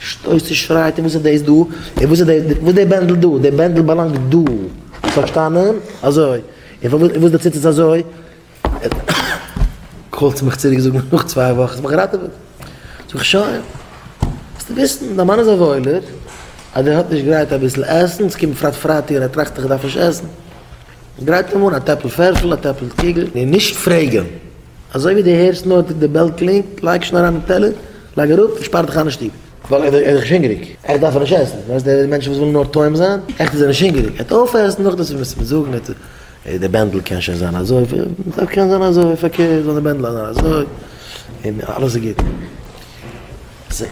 שטויסט און שרייט און וואס איז דאס דא? און וואס איז דער וואס דער בענדל דא? דער בענדל באלאנגט דא. האסט פארשטאנען? אזוי. און פארוואס און וואס דער ציץ איז אזוי? קאלסט מיך צוריק זאגן נאך צוויי וואך האסט מיך געראטעוועט. זאג איך שוין. זאלסטו וויסן דיין מאן איז א וואוילער אז ער האט נישט גרייט אביסל עסן, עס קומט פרייט פרייטאג און ער טראכט איך דארף נישט עסן. גרייט אים אן א טעפל פערפל, א טעפל קוגל. און נישט פרעגן. אזוי ווי דו הערסט נאר די בעל קלינגט לייג שוין אריין די טעלער. לייג אראפ און שפאר דיך איין אין שטוב. ווייל ער איז דאך שוין הונגעריג. עכט דארף ער נישט עסן. ווייסט די מענטשן וואס ווילן נאר טועם זיין? עכט איז ער נישט הונגעריג. ער העט אויפעסן נאכדעם וועסט דו מיר זאגן ער האט די בענדל קען שוין זיין אזוי פארקערט קען זיין אזוי פארקערט זאל די בענדל זיין אזוי און אלעס איז גוט.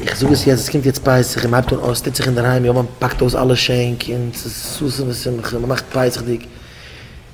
איך זאג עס יעצט עס קומט יעצט פסח און מען הייבט אן עס טוט זיך אינדערהיים יאמען פאקט אויס אלע שענק און עס איז ששון ושמחה מען מאכט פסח'דיג.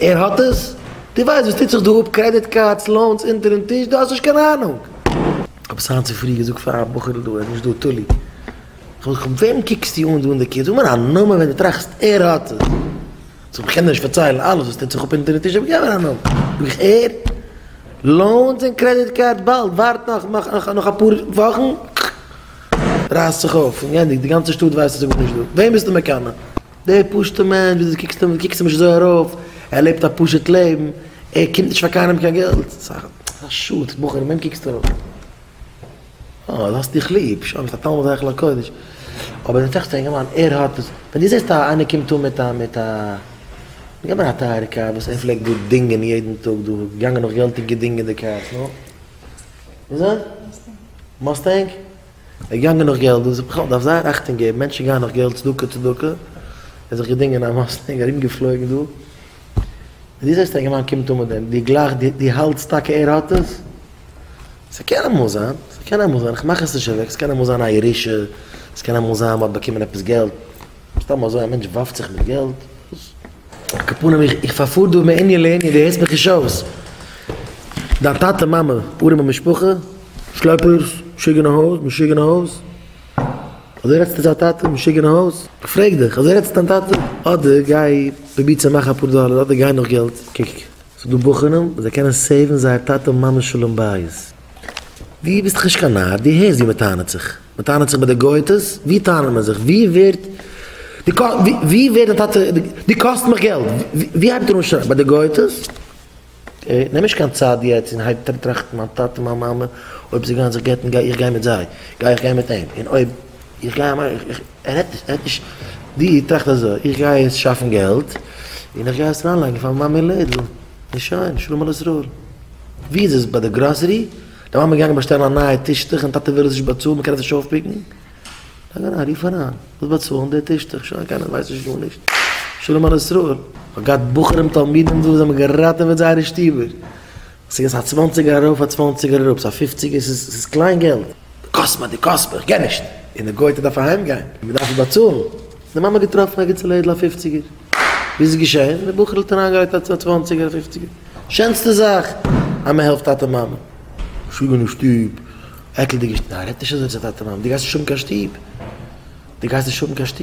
ער האט עס? דו ווייסט וואס טוט זיך דא אפ? קרעדיט קארדס, לאונס, אונטערן טיש? דו האסט נישט קיין אהנונג! כ'האב עס היינט צופרי געזאגט פאר א בחור'ל דא, ער איז נישט דא, תולי. כ'האב געזאגט, פון וועם קוקסטו אן דא אין די קיר? זאג מיר א נאמען וועם דו טראכסט ער האט עס. זאגט ער, כ'קען דיר נישט פארציילן אלעס וואס טוט זיך אפ אונטערן טיש, אבער געב מיר א נאמען. זאג איך, ער? לאונס און קרעדיט קארד באלד, ווארט נאך, נאך, נאך אפאר וואכן, כ'רייס זיך אויף, און גענדיגט, די גאנצע שטאט ווייסט אז ער וואוינט נישט דא. וועם ביסטו מקנא? דער פשוט'ער מענטש, ווי דו קוקסט אים, קוקסט אים נישט אזוי ארויף, ער לעבט א פשוט לעבן, ער קומט נישט פאר קיינעם קיין געלט, ס'איז א שאד, בחור, וועם קוקסטו ארויף? אה, דו האסט דיך ליב, שוין, ביסט א תלמיד היכל הקודש, אבער דער טעכטער אינגערמאן, ער האט וואס, ווען דו זעסט א איינער קומט אן מיט א, מיט א, גיב מיר א טייערע קאר וואס ער פלעגט דא דינגען יעדן טאג דא, געגאנגען נאך געלט און געדינגען די קארס, נו? וואס דען? מוסטענג? ער איז געגאנגען נאך געלט, דאס איז בכלל, דארף זייער אכטונג געבן, מענטשן גייען נאך געלט, צדקה צדקה, ער האט זיך געדינגען א מאסטענג, ארום געפלויגן דא, און דו זעסט יונגערמאן קומט אן מיט דעם, דו גלייכסט, דו, דו האלטסט טאקע ער האט עס? ס'קען אמאל זיין, ס'קען אמאל זיין, איך מאך עס נישט אוועק, ס'קען אמאל זיין א ירושה, ס'קען אמאל זיין מ'האט באקומען עפעס געלט, סתם אזוי א מענטש ווארפט זיך מיט געלט? וואס? כ'פאר נעם איך פאר דא מענין לענין דו הערסט מיך נישט אויס? דיין טאטע מאמע ארעמע משפחה שלעפערס משוגענע הויז משוגענע הויז אזוי רעדסטו צו א טאטע משוגענע הויז? כ'פרעג דיך אזוי רעדסטו צו דיין טאטע? אדער גיי פרוביר צו מאכן אפאר דאלער אדער גיי נאך געלט קוק ס'איז דא בוחנים וואס זיי קענען סעיוון זייער טאטע מאמע'ס שלום בית דו ביסט דאך נישט קיין נאר דו הערסט ווי מ'טענה'ט זיך? מען טענה'ט זיך ביי די גוי'טעס, ווי טענה'ן מיר זיך? ווי ווערט די קא ווי ווערט די טאטע די קאסט מיך געלט? ווי הייבט ער אן שרייען? ביי די גוי'טעס? נעם נישט קיין צד יעצט און הייב טראכטן מיין טאטע מיין מאמע אויב זיי גייען זיך גט'ן גיי איך גיי מיט זיי, גיי איך גיי מיט אים, און אויב איך גיי אים אויך, איך ער רעדט נישט ער רעדט נישט די טראכט אזוי איך גיי יעצט שאפן געלט און איך גיי עס אריינלייגן פאר מיין מאמע אין לעדל און שוין שלום על ישראל. ווי איז עס ביי די גראסערי? דער מאמע איז געגאנגען באשטעלן א נייע טישטוך און טאטע וויל עס נישט באצאלן מען קען עס נישט אויפפיקן, זאג אריין רוף אריין ווילסט באצאלן די טישטוך שוין קיינער ווייסט נישט גארנישט שלום על ישראל. כ'האב געהאט בחורים תלמידים דא וואס האבן געראטעוועט זייערע שטיבער, ס'איז געווען א צוואנציגער ארויף א צוואנציגער אראפ, סא פיפציגער ס'איז קליין געלט, די קאסט מיר די קאסט מיר כ'קען נישט, און די גויטע דארף אהיימגיין און מ'דארף עס באצאלן, די מאמע האט געטראפן א גוטע לעדל א פיפציגער. ווי איז עס געשען? די בחור'ל האט אריינגעלייגט א צוואנציגער א פופציגער, שענסטע זאך אז מען העלפט טאטע מאמע, שוין אין שטוב, עקלדיגע שטוב, ניין רעדט נישט אזוי צו טאטע מאמע, דו גייסט נישט האבן קיין שטוב, דו גייסט נישט האבן קיין שטוב.